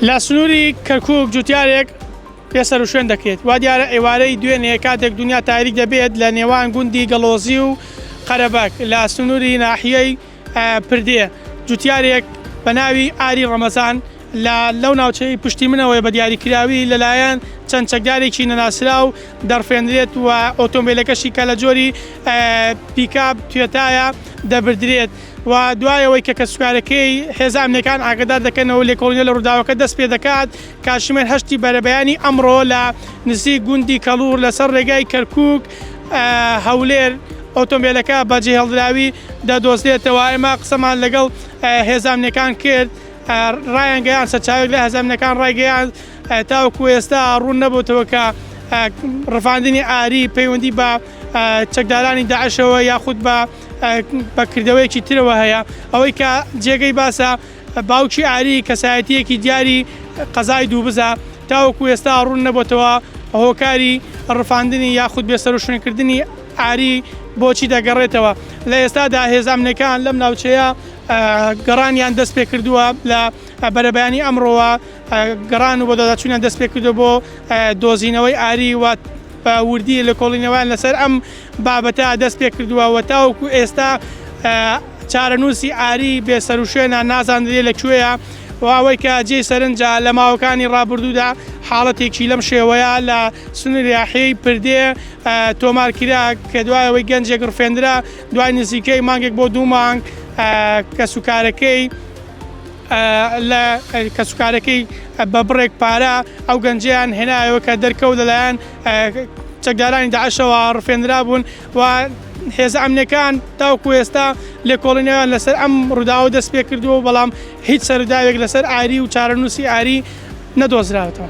لە سنووری کەرکووک جووتیارێک بێ سەروشوێن دەکرێت، وا دیارە ئێوارەی دوێنێ کاتێک دونیا تاریک دەبێت لە نێوان گوندی گەڵۆزی و قەرەبەک لە سنووری ناحیەی پردێ جووتیارێک بە ناوی ئاری ڕەمەزان لە لەو ناوچەی پشتی منەوەیە بە دیاریکراوی لەلایەن چەند چەکدارێکی نەناسراو دەڕفێندرێت و ئۆتۆمبێلەکەشی کە لە جۆری پیکاب توێتایە دەبردرێت. و دوای ئەوەی کە کەسوکارەکەی هێزە ئەمنیەکان ئاگەدار دەکەنەوە لێکۆڵینەوە لە ڕووداوەکە دەست پێ دەکات کاتژمێر هەشتی بەرەبەیانی ئەمڕۆ لە نزیک گوندی کەڵور لەسەر ڕێگای کەرکک هەولێر ئۆتۆمبیلەکە بە جێهێڵدراوی دەدۆزرێتەوە ئێمە قسەمان لەگەڵ هێزامنیەکان کرد ڕایان گەیان سەرچاوێک لە هەزامنەکان ڕایگەیان تاوەکو ئێستا ڕوون نەبووتەوە کە ڕفاندنی ئاری پەیوەندی بە چەکدارانی داعشەوە یاخود بە بە کردەوەیەکی ترەوە هەیە ئەوەی کە جێگەی باسە باوکی ئاری کەسایەتیەکی دیاری قەزای دووبزە تاوەکو ئێستا ڕوون نەبتەوە هۆکاری ڕفاندنی یاخود بێسەرشوێنکردنی ئاری بۆچی دەگەڕێتەوە لە ئێستادا هێزامنەکان لەم ناوچەیە گەڕانیان دەست پێ کردووە لە بەرەبیانی ئەمڕۆوە گەڕان و بۆ دەداچوونیان دەست پێ کردو بۆ دۆزینەوەی ئاری وات وردی لە کۆڵینەوەیان لەسەر ئەم بابەتە دەست پێکردووە و تاوەکو ئێستا چارەنووسی ئاری بێسەروشوێنە نازاندرێ لە کوێیە و ئەوەی کە جێی سەرنجە لە ماوەکانی ڕابردوودا حاڵەتێکی لەم شێوەیە لە سنوریاحی پردێ تۆمار کرا کە دوایەوەی گەنجێک ڕفێندرا دوای نزیکەی مانگێک بۆ دوو مانگ کە سوکارەکەی لە کەسوکارەکەی بە بڕێک پارە ئەو گەنجیان هێنایەوە کە دەرکەوت لەلایەن چەکدارانی داعشەوە ڕفێنرابوون و هێزە ئەمنەکان تاوکو ئێستا لێکۆڵینەوەیان لەسەر ئەم ڕووداوە دەست پێ کردووە بەڵام هیچ سەروداوێک لەسەر ئاری و چارەنووسی ئاری نەدۆزراوەتەوە.